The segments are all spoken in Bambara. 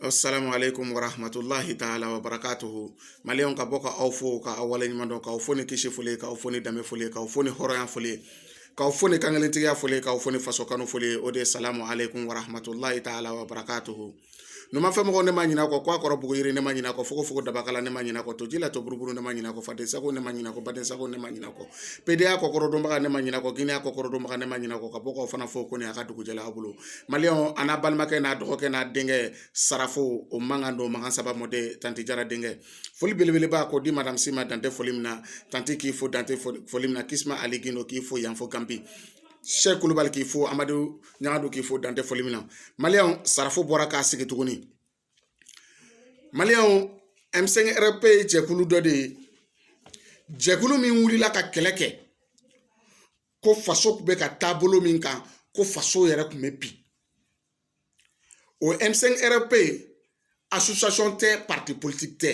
Assalamu alaikum warahmatullahi taala wabarakatuhu Maliyɛnw ka bɔ ka aw fo ka aw waleɲuman dɔn k'aw fo ni kisi foli k'aw fo ni danbe foli k'aw fo ni hɔrɔnya foli k'aw fo ni kankelentigiya foli k'aw fo ni faso kanu foli o de ye salamu alaikum warahmatullahi taala wabarakatuhu numanfɛ mɔgɔw ne ma ɲinɛ kɔ k'a kɔrɔ bugu yiri ne ma ɲinɛ kɔ fogofogo dabakala ne ma ɲinɛ kɔ toji la to buruburu ne ma ɲinɛ kɔ faden sago ne ma ɲinɛ kɔ baden sago ne ma ɲinɛ kɔ pedeya kɔkɔrɔdonbaga ne ma ɲinɛ kɔ girinya kɔkɔrɔdonbaga ne ma ɲinɛ kɔ ka bɔ k'aw fana fo ko ne y'a ka dugujɛla aw bolo mali an n'a balimakɛ n'a dɔgɔkɛ n'a denkɛ sarafo o mankan don makan saba mɔden tante jara denkɛ foli belebeleba ko di masi ma dan tɛ foli min na tante k'i fo dan tɛ foli min na kisi ali gindo k'i fo yanfɔ kanpi sɛ kulubali k'i fo amadu ɲagadu k'i fo dan tɛ foli min na mali sarafo bɔra k'a sigi tuguni mali M5-RFP jɛkulu dɔ de ye jɛkulu min wulila ka kɛlɛ kɛ ko faso tun bɛ ka taabolo min kan ko faso yɛrɛ tun bɛ bin o M5-RFP association tɛ parti politique tɛ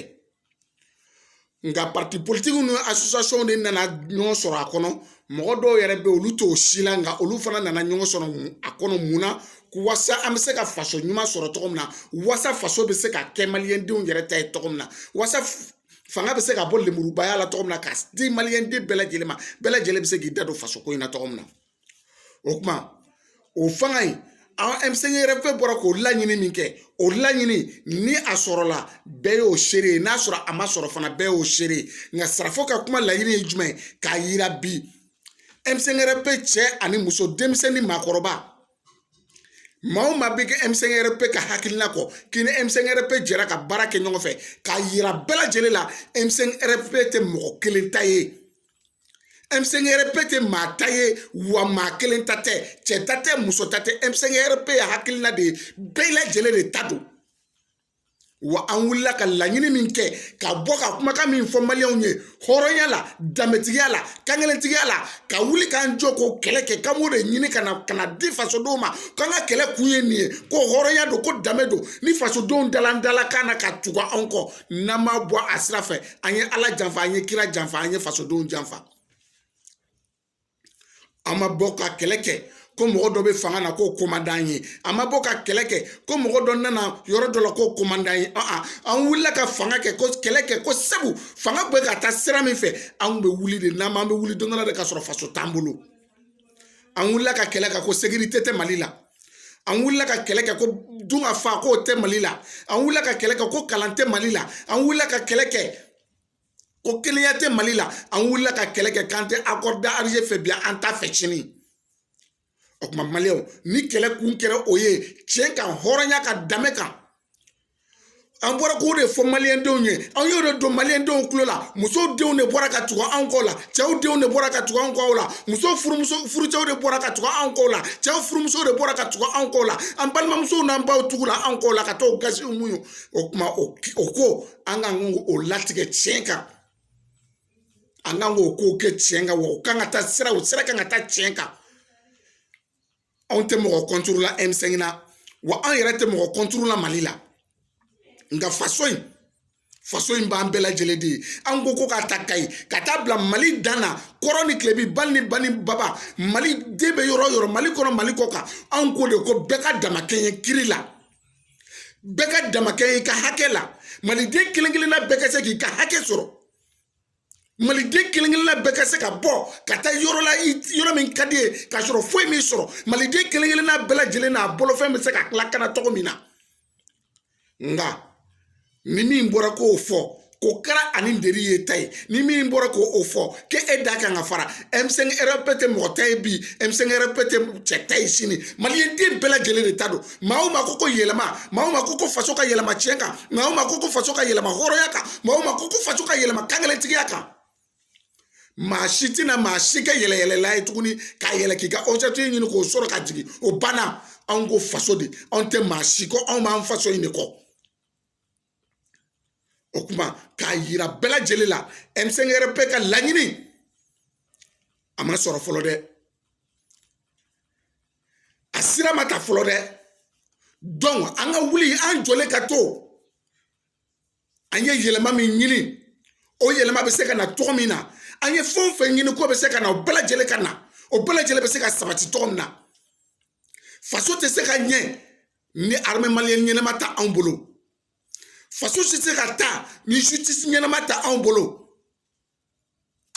nka parti politikiw ni association de nana ɲɔgɔn sɔrɔ a kɔnɔ mɔgɔ dɔw yɛrɛ bɛ olu t'o si la nka olu fana nana ɲɔgɔn sɔrɔ a kɔnɔ mun na wasa an bɛ se ka faso ɲuman sɔrɔ cogo min na wasa faso bɛ se ka kɛ maliyɛndenw yɛrɛ ta ye cogo min na wasa fanga bɛ se ka bɔ lemurubaya la cogo min na ka di maliyɛnden bɛɛ lajɛlen ma bɛɛ lajɛlen bɛ se k'i da don faso ko in na cogo min na o kuma o fanga in M5-RFP bɔra k'o laɲini min kɛ o laɲini ni a sɔrɔla bɛɛ y'o seere ye n'a sɔrɔ a ma sɔrɔ fana bɛɛ y'o seere ye nka sarafo ka kuma laɲini ye jumɛn ye k'a yira bi M5-RFP cɛ ani muso denmisɛnnin maakɔrɔba maa o maa bɛ kɛ M5-RFP ka hakilina kɔ k'i ni M5-RFP jɛra ka baara kɛ ɲɔgɔn fɛ k'a yira bɛɛ lajɛlen la M5-RFP tɛ mɔgɔ kelen ta ye M5-RFP tɛ maa ta ye wa maa kelen ta tɛ cɛ ta tɛ muso ta tɛ M5-RFP ye hakilina de ye bɛɛ lajɛlen de ta don wa an wulila ka laɲini min kɛ ka bɔ ka kumakan min fɔ maliyɛnw ye hɔrɔnya la danbetigiya la kankelentigiya la ka wuli k'an jɔ k'o kɛlɛ kɛ k'an b'o de ɲini ka na ka na di fasodenw ma k'an ka kɛlɛ kun ye nin ye ko hɔrɔnya don ko danbe don ni fasodenw dalan dala kan na ka tugu anw kɔ n'an ma bɔ a sira fɛ an ye ala janfa an ye kira janfa an ye fasodenw janfa an ma bɔ ka kɛlɛ kɛ ko mɔgɔ dɔ bɛ fanga na k'o ko man d'an ye an ma bɔ ka kɛlɛ kɛ ko mɔgɔ dɔ nana yɔrɔ dɔ la k'o ko man d'an ye an wulila ka fanga kɛ ko kɛlɛ kɛ ko sabu fanga bɛ ka taa sira min fɛ an kun bɛ wuli de n'an ma an bɛ wuli don dɔ la de ka sɔrɔ faso t'an bolo an wulila ka kɛlɛ kɛ ko sekirite tɛ mali la an wulila ka kɛlɛ kɛ ko dun ka fa k'o tɛ mali la an wulila ka kɛlɛ kɛ ko kalan tɛ mali la an wulila ka kɛlɛ kɛ ko kelenya tɛ mali la an wulila ka kɛlɛ kɛ k'an tɛ accord d'alger fɛ bi an t'a fɛ sini o tuma maliyɛnw ni kɛlɛ kun kɛra o ye tiɲɛ kan hɔrɔnya kan danbe kan an bɔra k'o de fɔ maliyɛndenw ye an y'o de don maliyɛndenw tulo la musow denw de bɔra ka tugu anw kɔ la cɛw denw de bɔra ka tugu anw kɔ la muso furumuso furucɛw de bɔra ka tugu anw kɔ la cɛw furumuso de bɔra ka tugu anw kɔ la an balimamusow n'an baw tugula anw kɔ la ka taa o gasiw mun ye o kuma o ko an kan k'o latigɛ tiɲɛ kan an kan k'o kow kɛ tiɲɛ kan wa u kan ka taa sira o sira kan ka taa tiɲɛ kan anw tɛ mɔgɔ kɔntoro la m5 la wa an yɛrɛ tɛ mɔgɔ kɔntoro la mali la nka faso in faso in b'an bɛɛ lajɛlen de ye an ko ko k'a ta kayi ka taa bila mali dan na kɔrɔn ni tilebin bali ni bani baba maliden bɛ yɔrɔ o yɔrɔ mali kɔnɔ mali kɔkan anw ko de ko bɛɛ ka damakɛɲɛ kiri la bɛɛ ka damakɛɲɛ i ka hakɛ la maliden kelen kelenna bɛɛ ka se k'i ka hakɛ sɔrɔ maliden kelen kelenna bɛɛ ka se ka bɔ ka taa yɔrɔ la yɔrɔ min ka d'i ye k'a sɔrɔ foyi m'i sɔrɔ maliden kelen kelenna bɛɛ lajɛlen n'a bolofɛn bɛ se ka lakana cogo min na nka ni min bɔra k'o fɔ k'o kɛra ani deri ye ta ye ni min bɔra k'o o fɔ k'e e da kan ka fara m5-rfp tɛ mɔgɔ ta ye bi m5-rfp tɛ cɛ ta ye sini maliyɛn den bɛɛ lajɛlen de ta don maa o maa ko ko yɛlɛma maa o maa ko ko faso ka yɛlɛma tiɲɛ kan maa o maa ko ko faso ka yɛlɛma hɔrɔnya kan maa o maa ko ko faso ka yɛlɛma kankelentigiya kan maa si tɛna maa si kɛ yɛlɛnyɛlɛnnan ye tuguni ka yɛlɛn k'i ka objectif ɲini k'o sɔrɔ ka jigin o banna anw ko faso de anw tɛ maa si kɔ anw b'an faso in de kɔ o kuma k'a yira bɛɛ lajɛlen la m5-rfp ka laɲini a ma sɔrɔ fɔlɔ dɛ a sira ma ta fɔlɔ dɛ donc an ka wuli an jɔlen ka to an ye yɛlɛma min ɲini o yɛlɛma bɛ se ka na cogo min na an ye fɛn o fɛn ɲini k'o bɛ se ka na o bɛɛ lajɛlen ka na o bɛɛ lajɛlen bɛ se ka sabati cogo min na faso tɛ se ka ɲɛ ni armée malienne ɲɛnama t'anw bolo faso tɛ se ka taa ni justice ɲɛnama t'anw bolo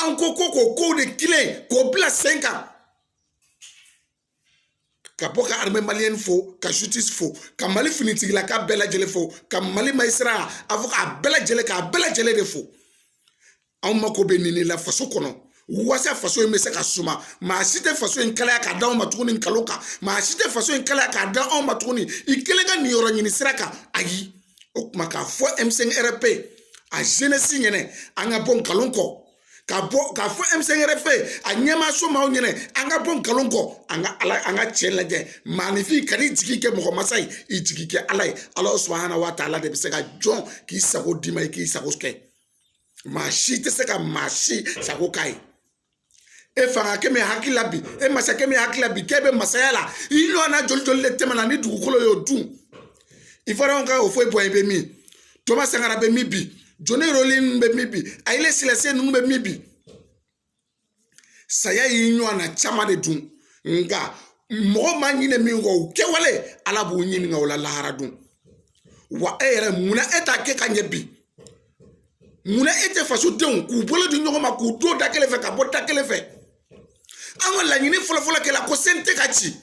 an ko ko k'o kow de tilen k'o bila sen kan ka bɔ ka armée malienne fo ka justice fo ka mali finitigilakaw bɛɛ lajɛlen fo ka mali magistrat a fɔ k'a bɛɛ lajɛlen k'a bɛɛ lajɛlen de fo anw mako bɛ nin de la faso kɔnɔ walasa faso in bɛ se ka suma maa si tɛ faso in kalaya ka d'anw ma tuguni nkalon kan maa si tɛ faso in kalaya k'a da anw ma tuguni i kelen ka niyɔrɔ ɲini sira kan ayi o kuma k'a fɔ m5-rfp a jenɛsi ɲɛna an ka bɔ nkalon kɔ ka bɔ k'a fɔ m5-rfp a ɲɛmaaso maaw ɲɛna an ka bɔ nkalon kɔ an ka ala an ka tiɲɛ lajɛ maaninfin kan'i jigi kɛ mɔgɔ masa ye i jigi kɛ ala ye ala subahana wa taala de bɛ se ka jɔn k'i sago d'i ma i k'i sago kɛ maa si tɛ se ka maa si sago k'a ye e fangakɛ min hakili la bi e masakɛ min hakili la bi k'e bɛ masaya la i ɲɔgɔnna joli joli de tɛmɛna ni dugukolo y'o dun ivuwariyɛnw ka ofuwɛ buwaɲi bɛ min toma sankara bɛ min bi jɔni rɔlin ninnu bɛ min bi ayile selase ninnu bɛ min bi saya y'i ɲɔgɔn na caman de dun nka mɔgɔ ma ɲinɛ min kɔ u kɛwale ala b'u ɲininka o la lahara don wa e yɛrɛ munna e t'a kɛ ka ɲɛ bi munna e tɛ fasodenw k'u bolo di ɲɔgɔn ma k'u don da kelen fɛ ka bɔ da kelen fɛ an ka laɲini fɔlɔfɔlɔ kɛla ko sente ka ci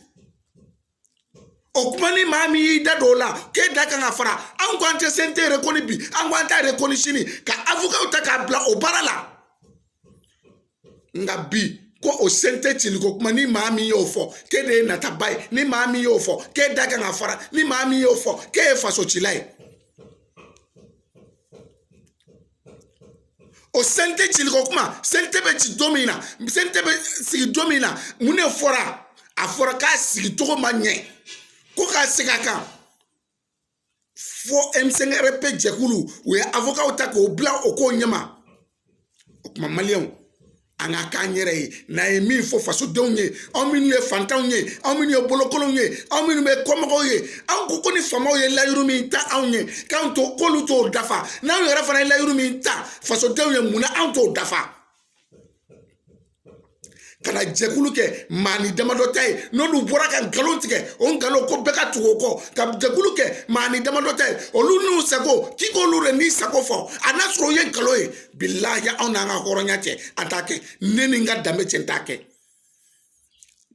o kuma ni maa min y'i da don o la k'e da kan ka fara anw ko an tɛ sente rekoni bi an ko an t'a rekoni sini ka avokaw ta k'a bila o baara la nka bi ko o sente cili ko kuma ni maa min y'o fɔ k'e de ye nataba ye ni maa min y'o fɔ k'e da kan ka fara ni maa min y'o fɔ k'e ye fasocila ye o sente cili ko kuma sente bɛ ci don min na sente bɛ sigi don min na mun de fɔra a fɔra k'a sigi cogo ma ɲɛ ko ka segin a kan fo ɛmsɛnk ɛrɛfpe jɛkulu u ye avokaw ta k'o bila o ko ɲɛma o kuma maliyɛnw an ka k'an yɛrɛ ye n'an ye min fɔ fasodenw ye aw minnu ye fantanw ye aw minnu ye bolokolonw ye aw minnu ye kɔmɔgɔw ye aw ko ko ni faamaw ye layidu min ta anw ye k'an to k'olu t'o dafa n'anw yɛrɛ fana ye layidu min ta fasodenw ye mun na anw t'o dafa ka na jɛkulu kɛ maanin damadɔ ta ye n'olu bɔra ka nkalon tigɛ o nkalon ko bɛɛ ka tugu o kɔ ka jɛkulu kɛ maanin damadɔ ta ye olu n'u sago k'i k'olu de n'i sago fɔ a n'a sɔrɔ o ye nkalon ye bi laja anw n'an ka hɔrɔnya cɛ an t'a kɛ ne ni n ka danbe cɛ n t'a kɛ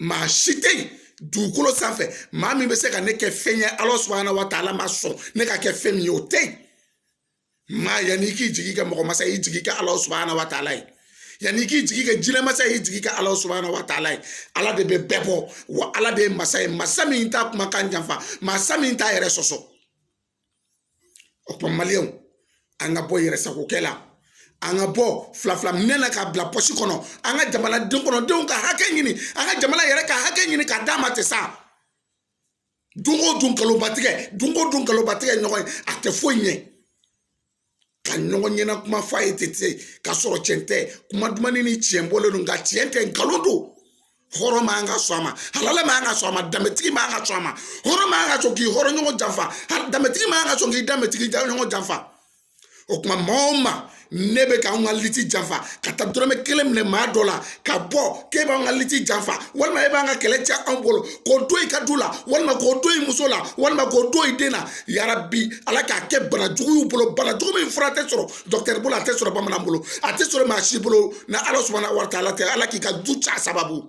maa si tɛ yen dugukolo sanfɛ maa min bɛ se ka ne kɛ fɛn ye ala subahana wa taala ma sɔn ne ka kɛ fɛn min ye o tɛ yen maa yanni i k'i jigi kɛ mɔgɔ masa y'i jigi kɛ ala subahana wa taala ye yanni i k'i jigi kɛ jinɛmasa y'i jigi kɛ ala subahana wa taala ye ala de bɛ bɛɛ bɔ wa ala de ye masa ye masa min t'a kumakan janfa masa min t'a yɛrɛ sɔsɔ o kuma maliyɛnw an ka bɔ yɛrɛ sagokɛ la an ka bɔ fila fila minɛ na k'a bila pɔsi kɔnɔ an ka jamana den kɔnɔdenw ka hakɛ ɲini an ka jamana yɛrɛ ka hakɛ ɲini k'a dama tɛ sa don o don nkalonbatigɛ don o don nkalonbatigɛ ɲɔgɔn ye a tɛ foyi ɲɛ ka ɲɔgɔn ɲɛna kuma f'a ye ten ten ka sɔrɔ cɛn tɛ kuma dumani ni tiɲɛ bɔlen don nka tiɲɛ tɛ nkalon don hɔrɔn man ka sɔn a ma halala man ka sɔn a ma danbetigi man ka sɔn a ma hɔrɔn man ka sɔn k'i hɔrɔn ɲɔgɔn janfa danbetigi man ka sɔn k'i danbetigi ɲɔgɔn janfa o tuma maa o maa n'e bɛ k'an ka liti janfa ka taa dɔrɔmɛ kelen minɛ maa dɔ la ka bɔ k'e b'an ka liti janfa walima e b'an ka kɛlɛ cɛn anw bolo k'o to i ka du la walima k'o to i muso la walima k'o to i den na yarabi ala k'a kɛ bana jugu bolo bana jugu min fura tɛ sɔrɔ dɔkitɛri bolo a tɛ sɔrɔ bamanan bolo a tɛ sɔrɔ maa si bolo ni ala sɔnna wari t'a la tɛ ala k'i ka du ci a sababu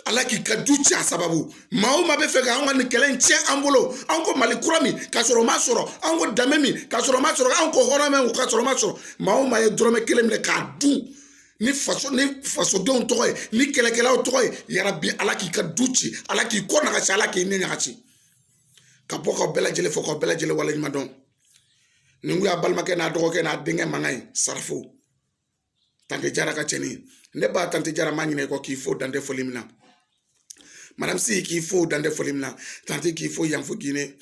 ala k'i ka du ci a sababu maa o maa b'a fɛ ka anw ka nin kɛlɛ in tiɲɛ an bolo anw ko mali kura min ka sɔrɔ o ma sɔrɔ anw ko danbe min ka sɔrɔ o ma sɔrɔ anw ko hɔrɔn min ka sɔrɔ o ma sɔrɔ maa o maa ye dɔrɔmɛ kelen minɛ k'a dun ni faso ni fasodenw tɔgɔ ye ni kɛlɛkɛlaw tɔgɔ ye yarabi ala k'i ka du ci ala k'i kɔ ɲaga ci ala k'i ɲɛ ɲaga ci ka bɔ ka bɛɛ lajɛlen fo ka bɛɛ lajɛlen waleɲuman dɔn nin kun y'a balimakɛ n'a dɔgɔkɛ n'a denkɛ mankan ye sarafo tante jara ka cɛni ne ba tante jara n ma ɲinɛ i kɔ k'i fo dan tɛ foli min na madame si k'i fo dan tɛ foli min na tante k'i fo yan fo gine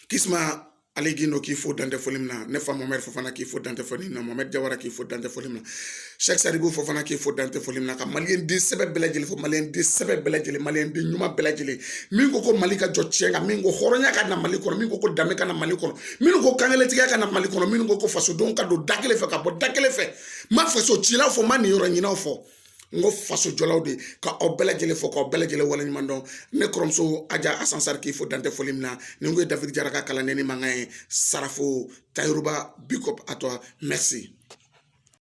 kisuma ali gindo k'i fo dan tɛ foli min na ne fa mamɛ fofana k'i fo dan tɛ foli min na mamɛ jara k'i fo dan tɛ foli min na sɛk saribu fofana k'i fo dan tɛ foli min na ka maliden sɛbɛ bɛɛ lajɛlen fo maliden sɛbɛ bɛɛ lajɛlen maliden ɲuman bɛɛ lajɛlen min ko ko mali ka jɔ tiɲɛ kan min ko hɔrɔnya ka na mali kɔnɔ min ko ko danbe ka na mali kɔnɔ minnu ko kankelentigiya ka na mali kɔnɔ minnu ko ko fasodenw ka don da kelen fɛ ka bɔ da kelen fɛ n ma faso cilaw fɔ n ma niyɔrɔ ɲininaw fɔ n ko faso jɔlaw de ka aw bɛɛ lajɛlen fo k'aw bɛɛ lajɛlen waleɲuman dɔn ne kɔrɔmuso aja asan sari k'i fo dan tɛ foli min na nin kun ye david jara ka kalandennin mankan ye sarafo tayiruba big up à toi merci